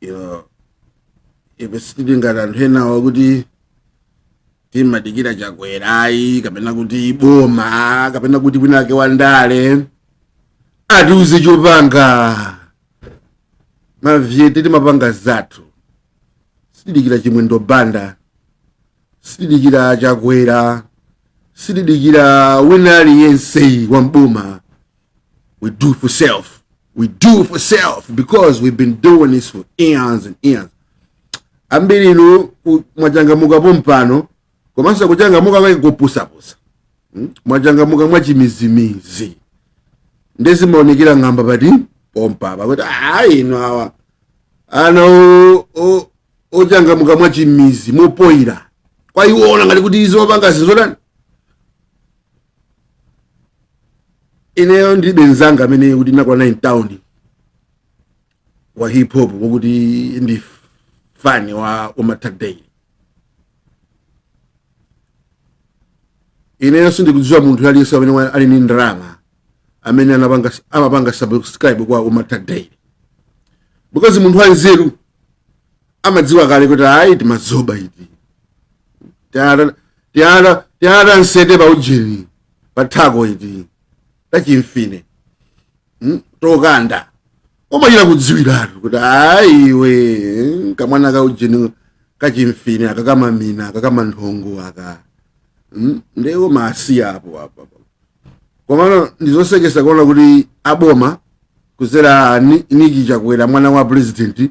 Yo ife sitili ngati anthu enawo kuti timadikira Chakwera ayi kapena kuti boma kapena kuti winake wandale atiuze chopanga mavyete timapanga zathu sitidikira Chimwendo Banda sitidikira Chakwera sitidikira wina aliyense wa m'boma We do for self. We do for self because we've been doing this for eons and eons. Ambiri inu ku- mwachangamuka pompano komanso kuchangamuka kwake kupusapusa. Hmm? Mwachangamuka mwachimizimizi. Nde zimaonekera ng'amba pati pompa pakuti ayi inu awa ana o- o- ochangamuka mwachimizi mopoyira kwaiwona ngati kuti izo opanga zinthu zotani ineyo ndilibe mzanga amene kuti ndinakwana in town wa hip hop wokuti ndi fani wa umatak day ineyo sindikudziwa munthu aliyense amene wa- ali ndi ndalama amene anapanga amapanga subscribe kwa umatak day because munthu wanzeru amadziwa kale kuti ayi timadzoba iti tiara tiara tiara nsete pa ujeni pa thako iti tachimfine mm? tokanda omachita kudziwiratu kuti ayi iwe kamwana ka ujeni kachimfine aka kamamina aka kamanthongo aka mm? ndiwo masiya apo apa komano ndizosekesa kuona kuti aboma kuzera Ni- Niki Chakwera mwana wa president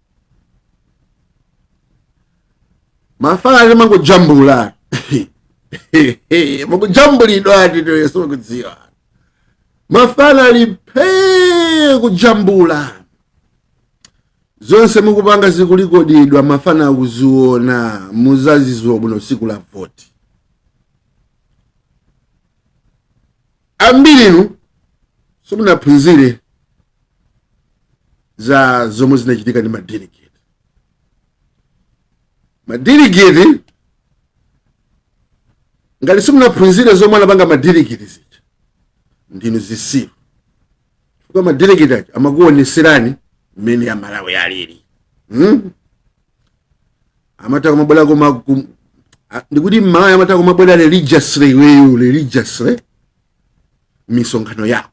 mafana amangojambula mukujambulidwa atito yesu kudziwa mafana ali phee kujambula zonse mukupanga zikulekodedwa mafana akuziona muzaziwa bwino siku la voti ambirinu simunaphunzire za zomwe zinachitika ndi madelegate madelegate ngati simunaphunzire zomwe anapanga madelegate zija ndinu zisiru chifukwa madelegate aja amakuoneserani mmene aMalawi alili hmm? amatha kumabwera koma kum- a- ndikuti mMalawi amatha kumabwera religiously iweyo religiously misonkhano yako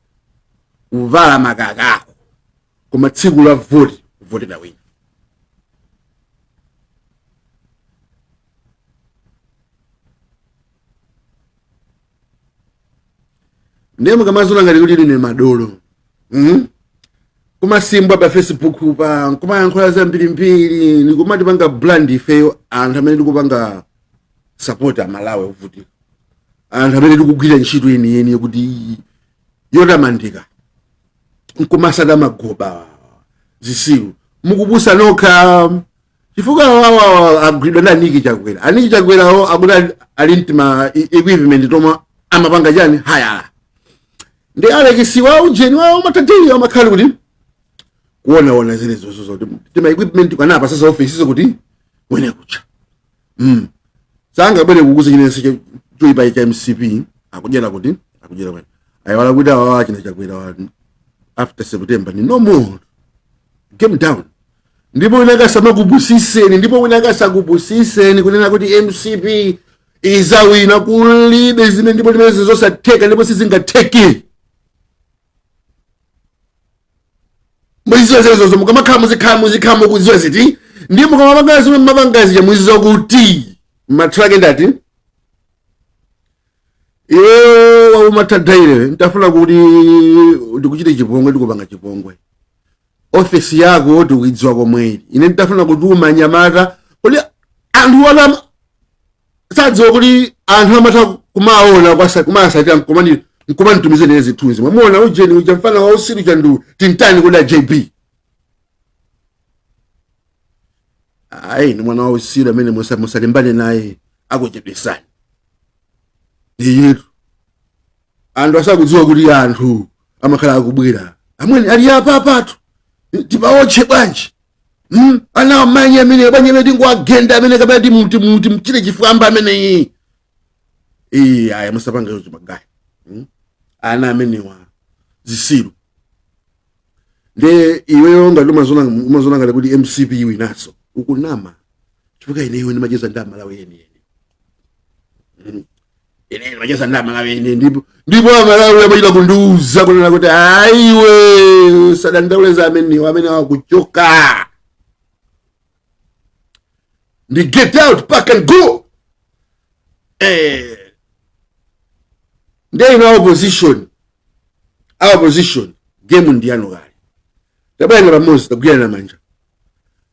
kuvala makaka ako koma tsiku la voti kuvotera wina ndiye mukamaziona ngati kuti line madolo mm? kumasimbwa pa facebook pa kumayankhula zambirimbiri nikumatipanga brand ifeyo anthu amene tikupanga sapoti amalawi ovutika anthu amene tikugwira ntchito yeniyeni yokuti yotamandika nkumasada magoba zisiru mukupusitsa nokha chifukwa awawa agwidwa ndi aniki chakwera aniki chakwerawo akuti ali- ali ndi tima equipment tomwe amapanga chani hayala ndi alekisi wa ujeni wawo matatili amakhala kuti kuonaona zile zozo zoti tima equipment kanapa sasa ofesizo kuti wene kucha mm. sangabwere kukuuza chinense choipa cha mcp akudyera kuti akudyera kwene ayiwala kuti awawa achina chakwerawa after september ni no more game down ndipo wina akasamakupusiseni ndipo wina akasakupusiseni kunena kuti mcp izawina kulibe zimene ndipo limene zizosatheka ndipo sizingatheki muziziwa zimenezozo mukamakhala muzikhala muzikhala mukuziwa ziti ndiye mukamapanga zimene mumapanga zija muziziwa kuti mathero ake ndati iwe wakumaThyolo dairewe nditafuna kuti ndikuchite chipongwe ndikupanga chipongwe ofesi yako ndikuidziwa komwe uli ine nditafuna kuti umanyamata kuti anthu wana sadziwa kuti anthu amatha kumaona kwasa kumasatira mkomani mkomani tumizeni zithunzi mwamuona ujeni uja mfana wa usiru chandu timtani kodi a jb ayi ni mwana wa usiru amene musa- musalimbane naye akuchedwesani inu anthu asakudziwa kuti anthu amakhala akubwera amweni ali apa apatu tipaotche bwanji hmm? ana amanyi amene bwanji amene tingomugenda amene kapena timchite chifwamba ameneyi iyi aya musapanga izo magaya hmm? ana amenewa zisiru nde iweyo ngati umaziona ngati kuti mcp iwinaso ukunama chifukwa ineyo ndimacheza ndi amalawi enieni hmm? ine ndimacheza ndi amalawi ine ndipo ndipo amalawi amachita kundiuza kunena kuti aiwe sadandauleza amenewo amene wakuchoka ndi get out pack and go eh ndiye ino opposition a opposition game ndi yanu kale tabwerani pamodzi tagwiranani manja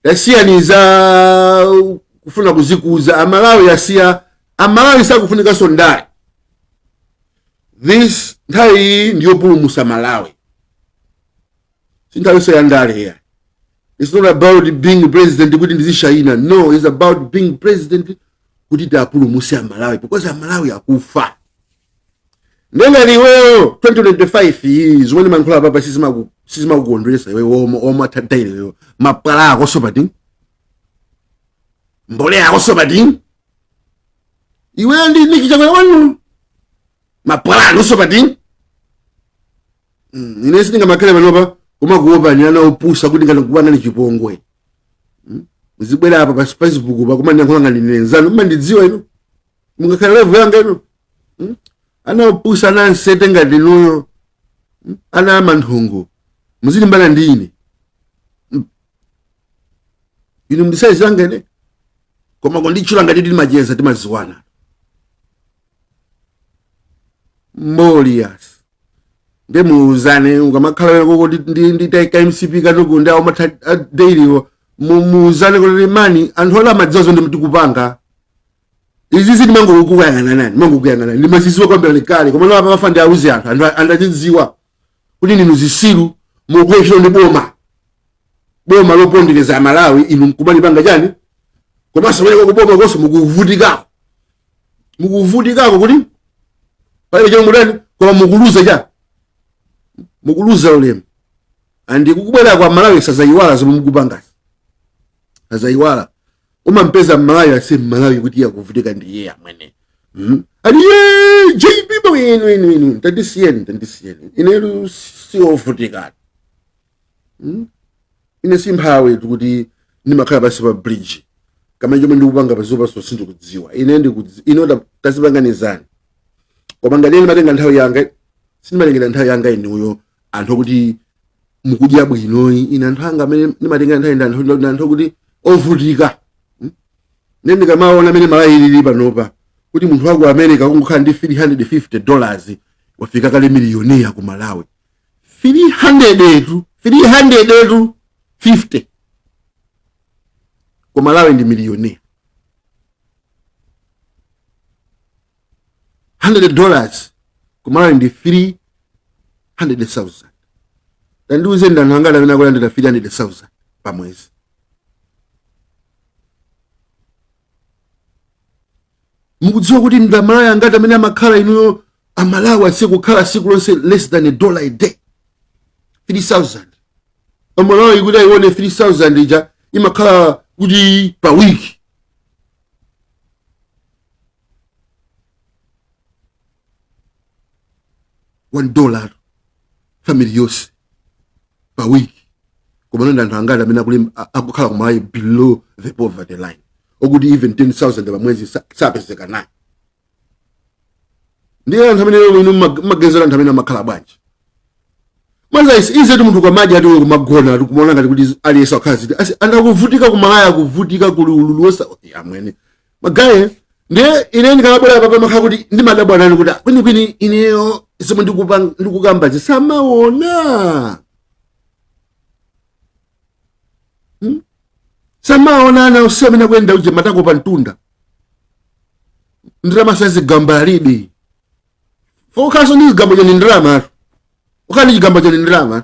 tasiyani za kufuna kuzikuza amalawi asiya amalawi sakufunikanso ndale this nthawi iyi ndiyopulumusa malawi si nthawinso ya ndale here it's not about being president kuti ndizishayina no it's about being president kuti tiwapulumutse amalawi because amalawi akufa ndiye ngati iweyo 2025 iyi zomwe ndimayankhula apapa sizimaku- sizimakukondweretsa iwe woma woma tadaile iweyo mapwala ako sopating mbole yako sopating iweyo ndi niki chakwera wanu mapwala ako sopating Mm, ine sindingamakhale panopa kumakuopa ni ana opusa kuti ngati kuba nali chipongwe Mm, muzibwera apa pa facebook pa koma ndiyankhula ngati ndine mnzanu mmandidziwa inu mungakhale level yanga inu Hmm? ana opusa ana ansete ngati inuyo Hmm? ana amanthungu muzilimbana ndi ine Hmm? inu ndi saizi yanga ine koma kunditchula ngati timacheza timadziwana molias nde muuzane ukamakhala wena koko ndi- ndi- nditaika mcp katuku ndi aumata dailiwo muuzane kuti mani anthu amadziwa zomwe tikupanga izi ndimangokuyang'anani ndimangokuyang'anani ndimazidziwa kwambiri kale koma lapa pafa ndiauze anthu anthu andazidziwa kuti ndinu zitsiru mukuphwekera ndi boma boma lopondereza amalawi inu mkumalipanga chani komanso pamene kubomakonso mukuvutikako mukuvutikako kuti palibe chomwe mutani koma mukuluza cha mukuluza ulemu and kukubweraku amalawi sadzaiwala zomwe mukupangazi sadzaiwala umampeza mmalawi ase mmalawi woti akuvutika ndi iye amwene mm? ali ye jb boy inu inu inu tandisiyeni tandisiyeni inetu siovutikatu mm? ine simphawi kuti ndimakhala pansi pa bridge kaya chomwe ndikupanga pazopaso sindikudziwa ine ndikudzi ino ta- tazipanganizani koma ngati ine ndimatenga nthawi yanga sindimatengera nthawi yanga inuyo anthu okuti mukudya bwino ayi ine anthu anga amene ndimatenga nthawi ndi anthu ndi anthu okuti ovutika Hmm? ne ndikamaona mmene malawi ilili panopa kuti munthu wa ku america kungokhala ndi 350 dollars wafika kale miliyoniya ku malawi 300tu 300tu 50 ku malawi ndi miliyoniya 100 dollars kumalawi ndi 300000 tandiuze ndi anthu angati amene akulandira 300000 pa mwezi mukudziwa kuti ndi amalawi angati amene amakhala inuyo amalawi osakukhala siku lonse less than a dollar a day 3000 amalawi kuti ayione 3000 ija imakhala kuti pa wiki one dollar family yonse pa wiki koma ndi anthu angati amene akuli- a- akukhala kumalawi below the poverty line okuti even 10000 pamwezi sa- sapezeka nayo ndiye anthu amene lero inu mmag- mmagezera anthu amene amakhala bwanji maza isi ize ti munthu kwamaji ati kumagona ati kumaona ngati kuti aliyense wakhala ziti asi anthu akuvutika kumalawi akuvutika kuli ululu woopsa amwene magaye ndiye ine ndikamabwera papa ndimakhala kuti ndimadabwa nanu kuti kwinikwini ineyo zomwe ndikupa- ndikukamba simumaona Hmm? samaona ana onse amene akuyenda uje matako pa mtunda ndalama zazigamba alibe fokhaso ndi zigamba chani ndalama ukhala ndi chigamba chani ndalama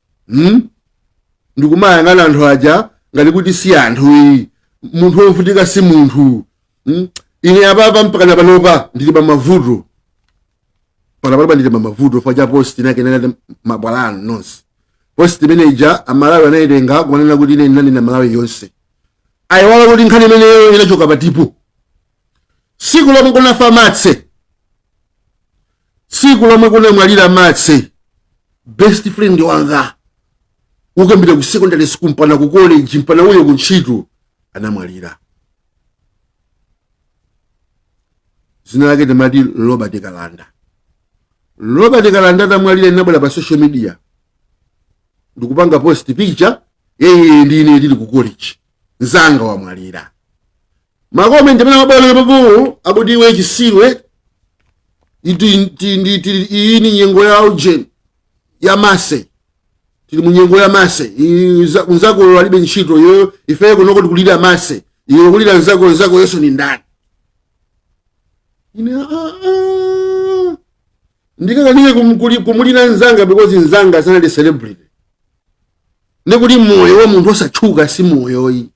hmm? nkumayang'ana anthu aja ngati kuti si anthu ayi munthu wovutika si munthu hmm? ine apapa mpakana panopa ndili pa mavuto pakana panopa ndili pa mavuto paja post inake inati mabwala anu nonse post imene ija amalawi anayitenga kumanena kuti ine ndinali na malawi yonse ayiwala kuti nkhani imeneyo inachoka patipo siku lomwe kunafa matse tsiku lomwe kunamwalira matse best friend wanga kuyambira ku secondary school mpana ku college mpana uyo ku ntchito anamwalira dzina lake timati robert kalanda robert kalanda atamwalira ndinabwera pa social media ndikupanga post picture yeye ndine ndili ku college nzanga wamwalira makomenti amene amabwera papo akuti iwe chitsiru iti- ti- ndi- tili- iyi ni nyengo ya ujeni ya matse tili mu nyengo ya matse iyi za- nzako alibe ntchito yo ifeye kunoko tikulira matse iwe kulira nzako nzako yenso ni ndani ine ah, ah. ndikakanike kum- kuli- kumulira nzanga because nzanga sanali celebrity ndikuti moyo wa munthu osatchuka si moyo ayi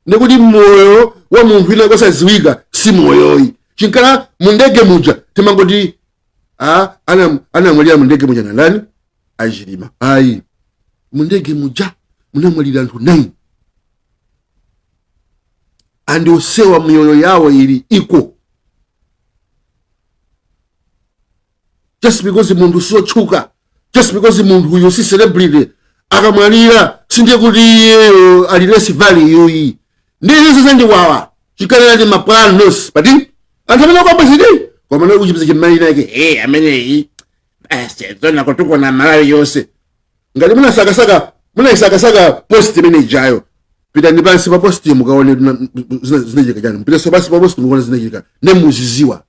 ndikuti moyo wa munthu wina wosadziwika si moyoyi chinkhala mundege muja timangoti anamwalira mundege muja ndani a Chilima ayi mundege muja munamwalira anthu 9 and onsewa miyoyo yawo ili iko just because munthu siotchuka just because munthuyo si celebrity akamwalira sindiye kuti iyeyo ali less value ayi ndiye izo zandiwawa chikanena timapulani pati anthu amene akwabwezidi koma naye kuchipisa chimali nake hey ameneyi zoona kutukwana malawi yonse ngati munasakasaka munayisakasaka post imene ijayo pitani pansi pa post mukaone zinachitika chani mupitenso pansi pa post mukaone zinachitika nemuziziwa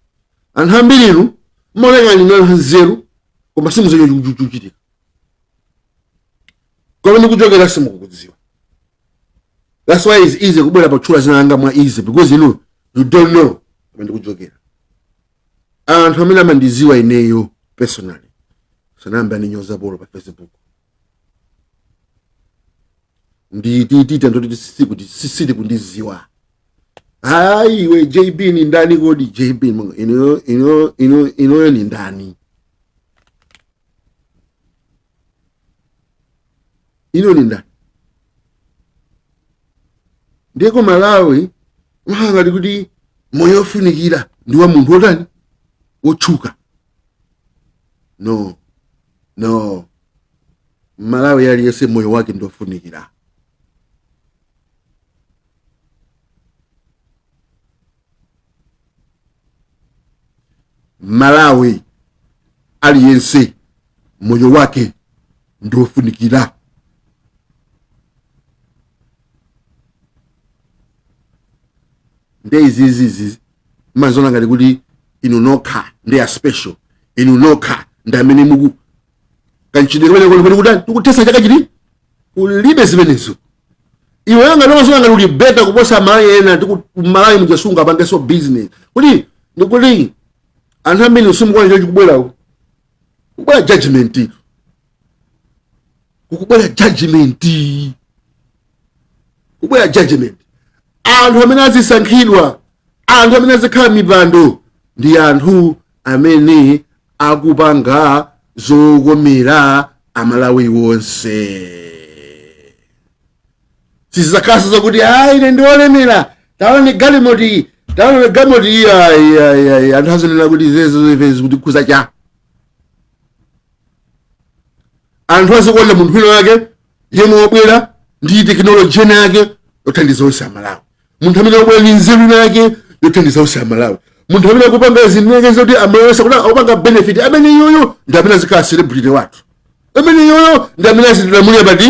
anthu ambiri inu mmaoneka ngati ndinu anthu anzeru koma simudziwa chomwe chikuchitika komwe ndikuchokera simukukudziwa that's why it's easy kubwera potchula dzina langa mwa easy because inu you don't know komwe ndikuchokera anthu amene amandidziwa ineyo personally sanayamba ndinyozapo pa facebook ndititita ndoti sikuti sakundiziwa ayi iwe jb ni ndani kodi jb mwa- ino- ino- ino- inoyo ni ndani ino ni ndani dziko la malawi mmaona ngati kuti moyo ofunikira ndi wa munthu otani wotchuka no no mmalawi aliyense moyo wake ndofunikira mmalawi aliyense moyo wake ndofunikira nde izizizi mmaziona ngati kuti inu nokha ndi a special inu nokha ndi amene muku kanchidwe kumene kuli kutani tikuthetsa chaka chino kulibe zimenezo iweyo ngati umaziona ngati uli better kuposa amalawi ena tiku- malawi mudzasunga apangenso business kuti ndikuti anthu ambiri simukuona chikubwerawo kubwera judgment kukubwera judgment kubwera judgment anthu amene azisankhidwa anthu amene azikhala mipando ndi anthu amene akupanga zokomera amalawi wonse sizizakhalanso zakuti ayi ine ndiolemera taone galimoti taone galimoti iyi ayi ayi ayi anthu azinena kuti zezo zimene zikutikhuza cha anthu azikuona munthu wina wake yemwe wabwera ndi tekinoloji ina yake yothandiza onse amalawi munthu amene wabwera ndi nzeru ina yake yothandiza onse amalawi munthu amene akupanga zinthu zake zoti amalawi onse kuti akupanga benefit amene iyoyo ndi amene azikhala celebrity wathu amene iyoyo ndi amene azitilamulira pati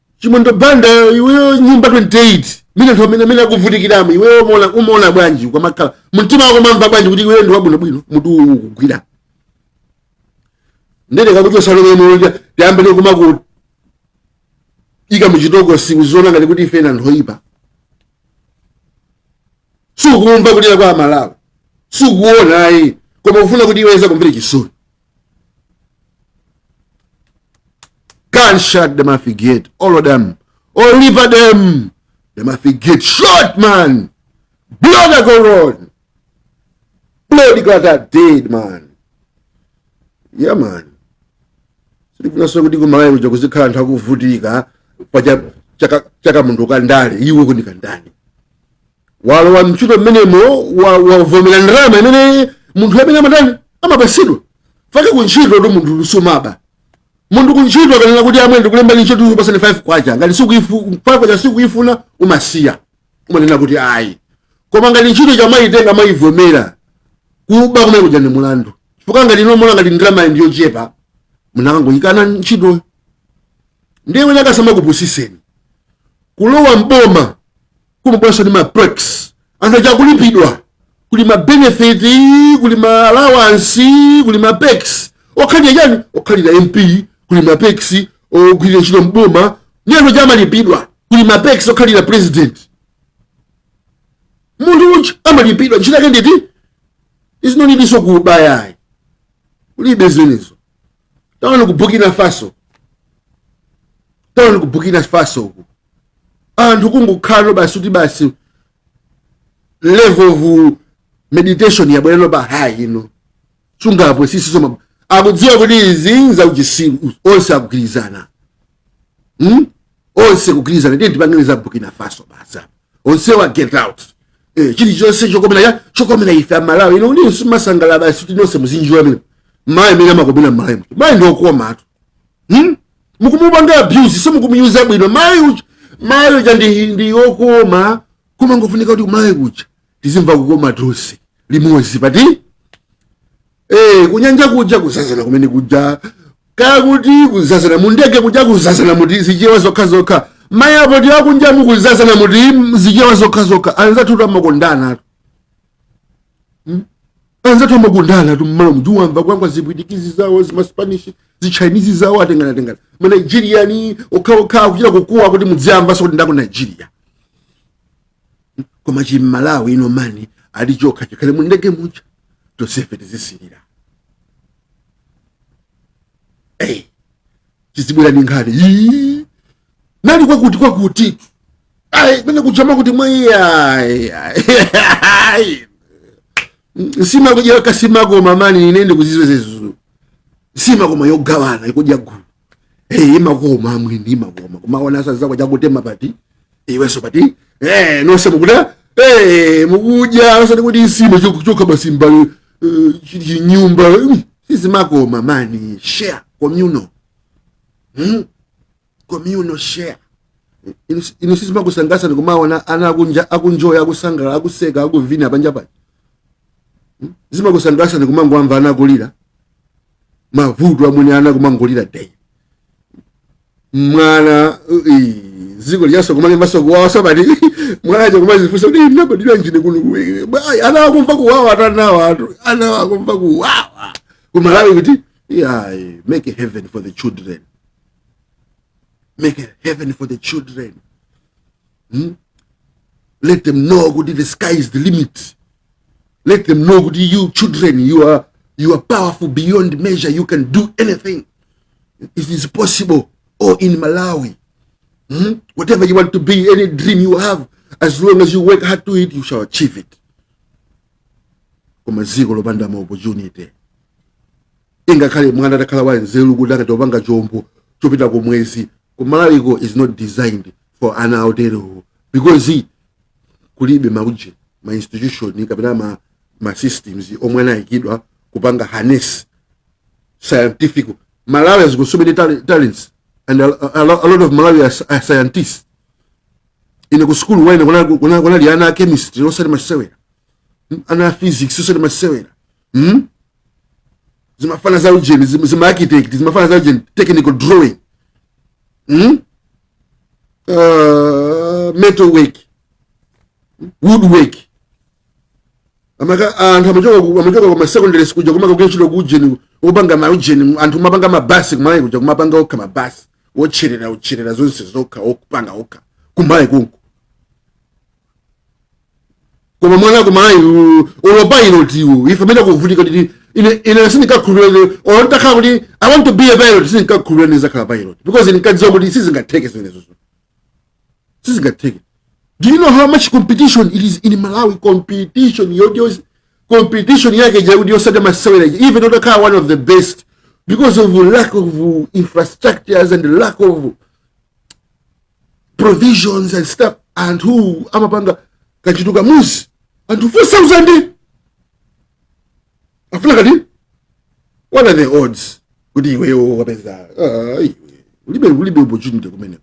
chimwendo banda iweyo nyumba 28 mina anthu amene akuvutikiramo iweyo umaona- umaona bwanji ukamakhala mtima wako umamva bwanji kuti iweyo ndi wabwinobwino mutu uwu ukugwira ndende kakuchosa lomemolonja tiyambe nikumaku ika muchitoko sukuziona ngati kuti ife ndi anthu oyipa sukumva kulira kwa amalawi sukuona ayi koma ufuna kuti iwe azikumvera chisoni gunshot them haffi get all of them all a them them haffi get shot man blood a go run blood got a dead man yeah man sitifunanso kuti kumalawi kuja kuzikhala anthu akuvutika pa cha- chaka- cha kamunthu kandale iwe kunikandani walowa mntchito mmenemo wa- wavomera ndalama imene munthu amene amatani amapasidwa fake kuntchito tu munthu sumaba munthu kuntchito akanena kuti amwene ndikulembani ntchito ndikupasani 5 kwacha ngati sukuifu- 5 kwacha sukuifuna umasiya umanena kuti ayi koma ngati ntchito ija amaitenga amaivomera kuba kumene kuja ndi mulandu chifukwa ngati munaona ngati ndalama ndi yochepa munakangoikana ntchitoyo ndiye wina asama kupusiseni kulowa m'boma kumabweranso ndi ma perks anthu aja akulipidwa kuli ma benefit kuli ma allowance kuli ma perks okhalira chani okhalira mp kuli ma perks ogwirira ntchito m'boma ndi anthu aja amalipidwa kuli ma perks okhalira president munthu uja amalipidwa ntchito yake nditi izi nolinso kuba ayi kulibe zimenezo taona ku burkina faso taona ku burkina faso uku anthu kungokhalano basi kuti basi level of meditation yabwerano pa high ino sungapusitse so akudziwa kuti izi zauchisiru onse akugwirizana hmm? onse kugwirizana tiye tipangire za burkina faso basi apa onsewa get out eh, chilichonse chokomera ya chokomera ife amalawi ino ndi simasangala basi kuti nonse muzidziwa mmene mayi amene amakomera mmalawi kuti mayi ndi okomatu hmm? mukumupanga abuse simukumuuza bwino mayi uja mayi uja ndi, ndi okoma koma ngofunika kuti mayi uja tizimva kukoma tonse limodzi pati ee eh, kunyanja kuja kuzazana kumene kuja kaya kuti kuzazana mundege kuja kuzazana muti zichewa zokha zokha mayiko ndi akunja mukuzazana muti zichewa zokha zokha anzathu tu amakondana tu hmm? anzathu amakondana tu mmalo moti uwamva kwangwa zipwitikizi zawo zimaspanishi zichinese zawo atengana tengana manigeriani okhaokha akuchita kukuwa kuti mudziyamvanso kuti ndi aku nigeria koma chim'malawi ine mani ali chokha chikhale mu ndege muja tonsefe tizisilira hey, tizibwera ndi nkhani Yii. nali kwakuti kwakuti ayi mene kuchama kuti mwayi ayi ayi nsima kudyera nsima koma mani ine ndikuzizwezezuzu nsima koma yogawana kudya gulu hey, imakoma amwini imakoma kumaona anzako akutema apa iwenso apa hey, nonse mukuda hey, mukudya osati kuti nsima chok- chokha basi mbali uh, chinyumba mm, sizimakoma mani share communal hmm? communal share Inu- inu sizimakusangalatsa ndikumaona ana akunjo- akunjoya akusangalala akuseka akuvina panja apa zimakusangalatsa ndikumangowamva ana akulira mavuto amwene ana kumangolira day mwana ii, dziko liyaso kumalembaso kuwawa sabati mwana aja kumazifunsa kuti ndinabadira nji ine kuno kuwiri Bwayi, ana akumva kuwawa atani anawa ana akumva kuwawa kumalawi kuti ayi make a heaven for the children make a heaven for the children hmm? let them know kuti the sky is the limit let them know kuti you children you are, you are powerful beyond measure you can do anything it is possible or in malawi hmm? whatever you want to be any dream you have as long as you work hard to it you shall achieve it koma ziko lopanda ma opportunity ingakhale mwana atakhala wanzeru kuti akatopanga chombo chopita kumwezi kumalawiko is not designed for ana oterewo because kulibe mauje ma institution kapena ma, ma systems omwe anayikidwa kupanga harness scientific malawi has got so many tal- talents and a, a, lo- a lot of malawi are, sci- are scientists ine ku sukulu wanga ine kunali- kunali kunali ana a chemistry osati masewera Mm, ana a physics osati masewera mm? zimafana za ujeni zima architect zimafana za ujeni technical drawing mm? uh, metal work wood work amaka anthu amachoka ku- amachoka ku masecondary school kuja kumaka kuchita ku ujeni opanga ma ujeni anthu kumapanga mabasi kumalawi kuja kumapanga okha mabasi otcherera otcherera zonse zokha akupanga okha kumalawi konko koma mwana kumalawi olo pilot tiwo ife amene kuvutika kuti ine ine sindinkakhulupirira or ndakhala kuti i want to be a pilot sindinkakhulupirira ndizakhala pilot because ndinkadziwa kuti sizingatheke zimenezo sizingatheke do you know how much competition it is in malawi competition yodiyo competition yake yakuti osati masewera ija even utakhala one of the best because of lack of infrastructures and lack of provisions and stuff anthu amapanga kachinthu kamodzi anthu 4000 afuna kati what are the odds kuti iweyo wapeza ah, iwe ulibe ulibe opportunity kumene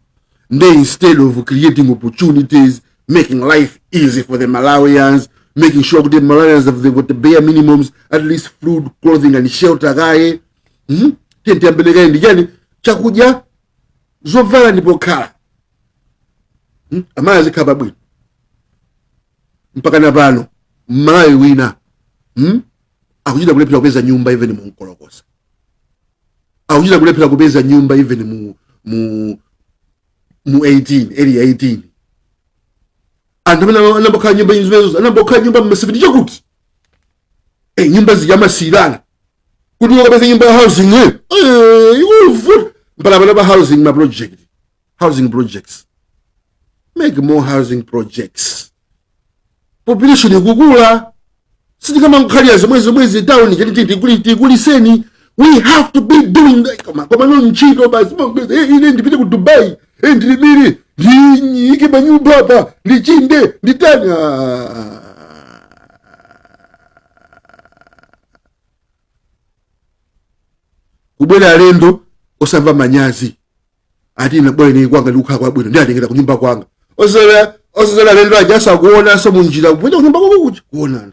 nde instead of creating opportunities making life easy for the malawians making sure kuti malawians have the, got the bare minimums at least food clothing and shelter kaye hmm? tiyambile kaye ndi chani chakudya zovala ndi pokhala Hmm? amayi azikhala pabwino mpaka na pano mmalawi wina hmm? akuchita kulephera kupeza nyumba even mu nkolokosa akuchita kulephera kupeza nyumba even mu mu mu 18 area 18 anthu amene anambokhala nyumba zimenezo anambokhala nyumba mma 70 chakuti e nyumba zija amasiyirana kuti ukapeza nyumba ya housing eh, eh, ikuvuta mpaka pano pa housing ma project housing projects make more housing projects population ikukula sitikamangokhalira zomwe zomwezi tawuni tikuliseni we have to be doing that. koma koma no ntchito basi mangeza, eh, ine ndipite ku dubai e, ndilemere ndiike manyumba apa ndichinde nditani Ah. kubwera alendo osamva manyazi ati ina bwana ine kwanga ndikukhala kwabwino ndiatengera kunyumba kwanga osazala osazala alendo aja asakuonaso munjira kupita kunyumba kwako kuja kuonana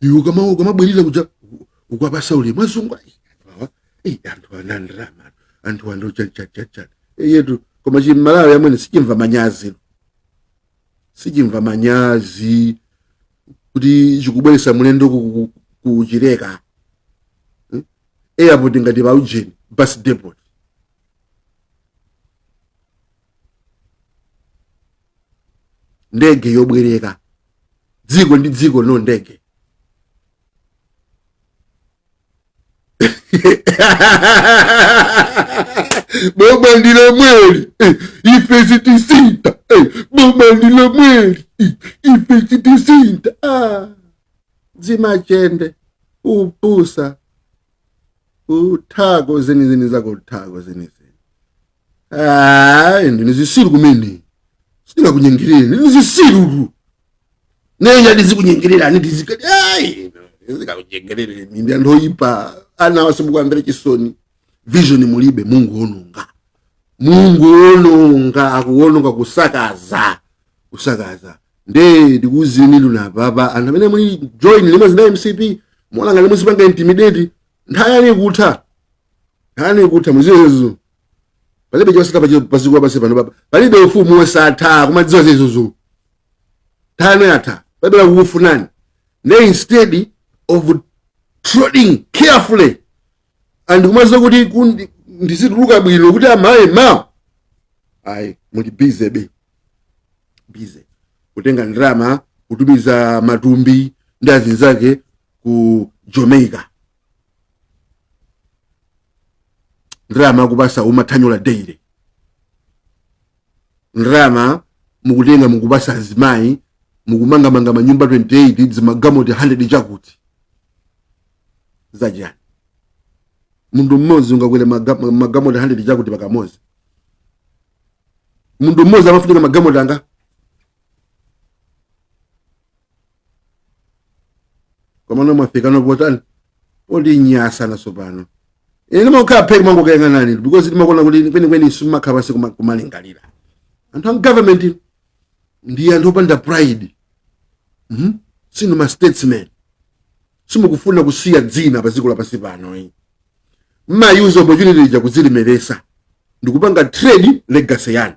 iwe kama ukamabwerera kuja ukwapasa ulemu azungu ayi awa eyi anthu ana ndrama anthu ando chachachacha eyetu koma chimalawi amwene sichimva manyazi sichimva manyazi kuti chikubweresa mulendo ku- ku- ku- kuchileka Hmm? airport ngati pa ujeni bus depot ndege yobwereka dziko ndi dziko no ndege boma ndi lomweli eh, ife sitisintha eh, boma ndi lomweli eh, ife sitisintha ah. zimachende upusa uthako zenizeni zako uthako zenizeni Ah, ndinu zisiru kumene sindingakunyengerereni ndinu zisiru nenya ndizikunyengererani tizika ai ndizikakunyengerere mimbi anthu oyipa anawa simukuamvera chisoni vision mulibe mungoononga mungoononga akuononga kusakaza kusakaza nde ndikuuzeni lunapapa anthu amene muli join limodzi na mcp muononga limodzi panga intimidate nthawi yanu ikutha nkhani ikutha muzidziwa izo palibe chosatha pa chiko- pa dziko lapansi pano papa palibe ufumu wosatha kumadziwa zizozo nthawi yatha palibe akukufunani ne instead of treading carefully and kumadziwa kuti kundi- ndizituluka bwino kuti amaye ma ayi muli busy be busy kutenga ndalama kutumiza matumbi ndi azinzake ku jamaica ndalama akupasa mathanyula daily ndalama mukutenga mukupasa azimayi mukumanga ma manyumba 28 zimagamoti 100 chakuti zachani munthu mmodzi ungakwere maga- magamoti 100 chakuti pakamodzi munthu mmodzi amafunika magamoti angati komano mwafika potani potinyansa naso pano ine ndimakhala phee kumangokuyang'anani because ndimaona kuti kwenikweni simumakhala pansi kuma- kumalingalira anthu a government ndi anthu opanda pride Mhm. sinu ma statesmen simukufuna kusiya dzina pa dziko lapansi pano eh. mmauser opportunity ija kudzilemeretsa ndikupanga trade legacy yanu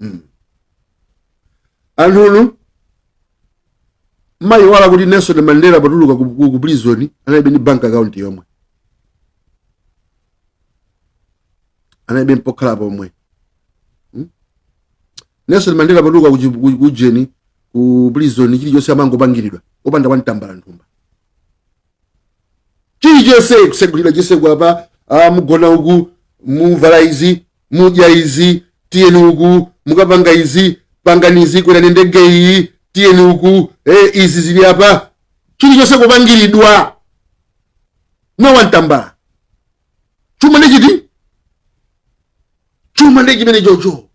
mm. anthunu mmayiwala kuti nelson mandela potuluka ku, ku, ku prison analibe ndi bank account yomwe analibe ndi pokhala pomwe hmm? nelson mandela potuluka kuchi- ku- kujeni ku prison chilichonse amangopangiridwa opanda wantambala mthumba chilichonse kusegulira chitseko apa ah, mugona uku muvala izi mudya izi tiyeni uku mukapanga izi pangani izi kwerani ndege iyi tiyeni uku eh, izi zili apa chilichonse kupangiridwa no wantambala chuma ndi chiti chuma ndi chimenecho cho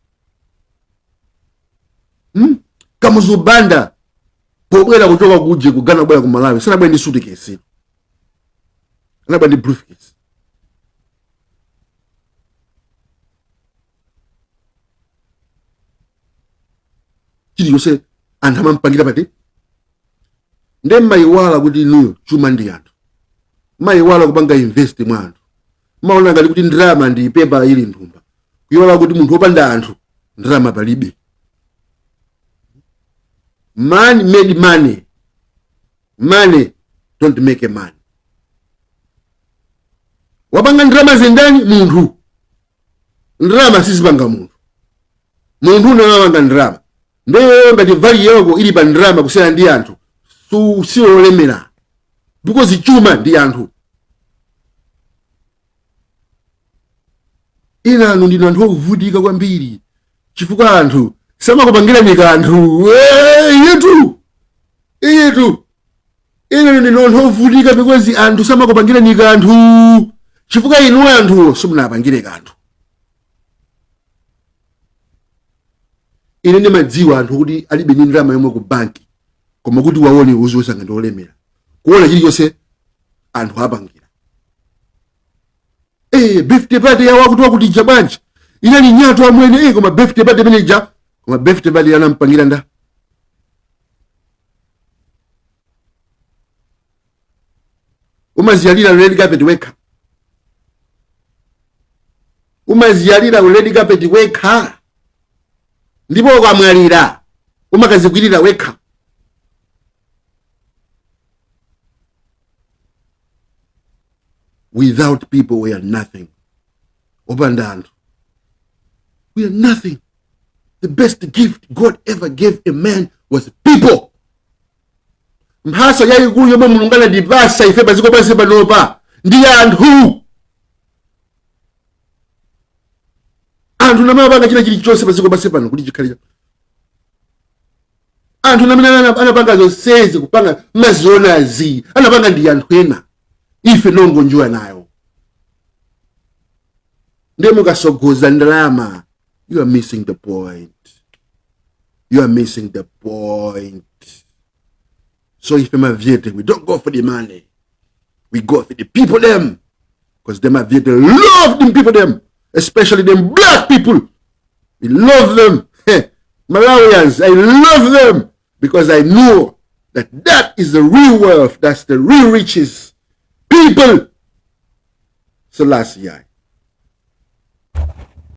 hmm? kamuzu banda pobwera kuchoka kuje ku ghana kubwera ku malawi sanabwere ndi sutikesi anabwera ndi briefcase chilichonse anthu amampangira pati nde mmayiwala kuti inuyo chuma ndi anthu mmayiwala kupanga invest mwa anthu mmaona ngati kuti ndalama ndi pepala ili mthumba kuyiwala kuti munthu wopanda anthu ndalama palibe man made money money don't make a man wopanga ndalamazo ndani munthu ndalama sizipanga munthu munthu ndi amene amapanga ndalama ndiye ngati value yako ili pa ndalama kusiyana ndi anthu su- siwolemera because chuma ndi anthu inanu ndinu anthu ovutika kwambiri chifukwa anthu samakupangirani kanthu Eh, iyitu iyitu inanu ndinu anthu ovutika because anthu samakupangirani kanthu chifukwa inu anthuwo simunapangire kanthu ine ndimadziwa anthu kuti alibe ndi ndalama yomwe ku banki koma kuti uwaone uziyesanga ndi olemera kuona chilichonse anthu apangira eh birthday party ya wakutiwakuti ija bwanji inali nyatwa amwene eh koma birthday party imene ija koma birthday party anampangira ndani umaziyalira red carpet wekha umaziyalira red carpet wekha ndipo ukamwalira umakazikwirira wekha without people we are nothing opanda anthu we are nothing the best gift god ever gave a man was people mphaso yayikulu yomwe mulungu anatipasa ife padziko pansi panopa ndi anthu anthu ndi amapanga china chilichonse padziko pansi pano kuti chikhale anthu ena amene ana- anapanga zonsezi kupanga mazionazi anapanga ndi anthu ena ife n'kungonjoya nayo ndiye mukatsogoza ndalama you are missing the point you are missing the point so ife mavyete we don't go for the money we go for the people them because them mavyete love them people them especially them black people we love them malawians i love them because i know that that is the real wealth that's the real riches people so last year